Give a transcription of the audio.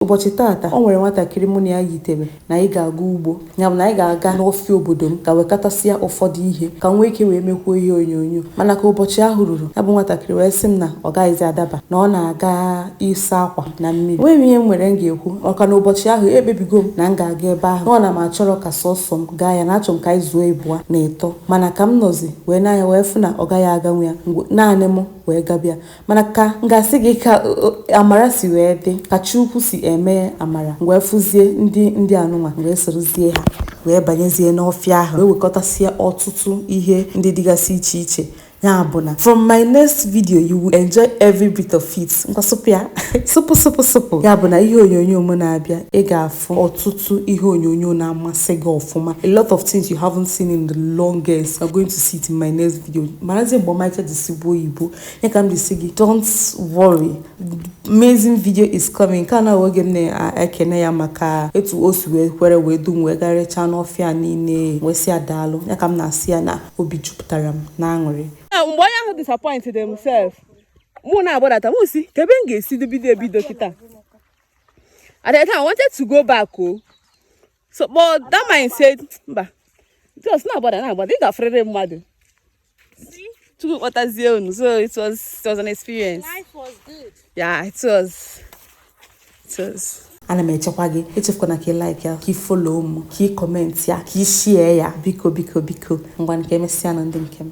Ụbọchị taata, o nwere nwatakịrị mụ na ya yitere na anyị ga-aga ugbo. Ya bụ na anyị ga-aga n'ọfịa obodo m gaa wekọtasịa ụfọdụ ihe ka m nwee ike wee mekwuo ihe onyonyo. Mana ka ụbọchị ahụ ruru, ya bụ nwatakịrị wee sị m na ọ gaghịzi adaba, na ọ na-aga ịsa akwa na mmiri. Enweghị m ihe m nwere m ga-ekwu maka na ụbọchị ahụ ekpebigo m na m ga-aga ebe ahụ. Nọ na m achọrọ ka sọsọ m gaa ya na achọrọ m ka anyị zuo ịbụa na ịtọ. Mana ka m nọzi wee nee anya wee fụ na ọ gaghị aganwu ya, naanị mụ wee gabịa. mana ka m ga-asị gị ka amara si wee dị ka chi ukwu si eme amara m wee fụzie ndị anụnwa wee sorozie ha wee banyezie n'ọfịa ahụ wee wekọtasịa ọtụtụ ihe ndị dịgasị iche iche ya bụ na from my next video you will enjoy every bit of it ngwa sụpụ ya sụpụ sụpụ sụpụ ya bụ na ihe onyonyo m na-abịa ị ga-afụ ọtụtụ ihe onyonyo na-amasị gị ọfụma a lot of things you haven't seen in the longest you are going to see it in my next video marazie mgbe ọmarịcha ji sụgbuo oyibo ya ka m ji sị gị don't worry amazing video is coming nke a na oge m na-ekene ya maka etu o si wee kwere wee du m wee garịchaa n'ọfịa niile wee sị ya daalụ ya ka m na-asị ya na obi jupụtara m na aṅụrị mgbe onye ahụ disappointịrị m sef mụ na-agbadata mụ sị kee ebe m ga-esi bido ebido kịta at the time I wanted to go back o oh. so but that mind said mba just na-agbada na-agbada ị ga-afụrịrị mmadụ Chukwu kpọtazie unu. So it was it was an experience. Life was good. Yeah, it was. It was. ana m echekwa gị echefukwana ka ị like ya ka ị follow m ka ị comment ya ka ị share ya biko biko biko ngwa ka emesịa nụ ndị nke m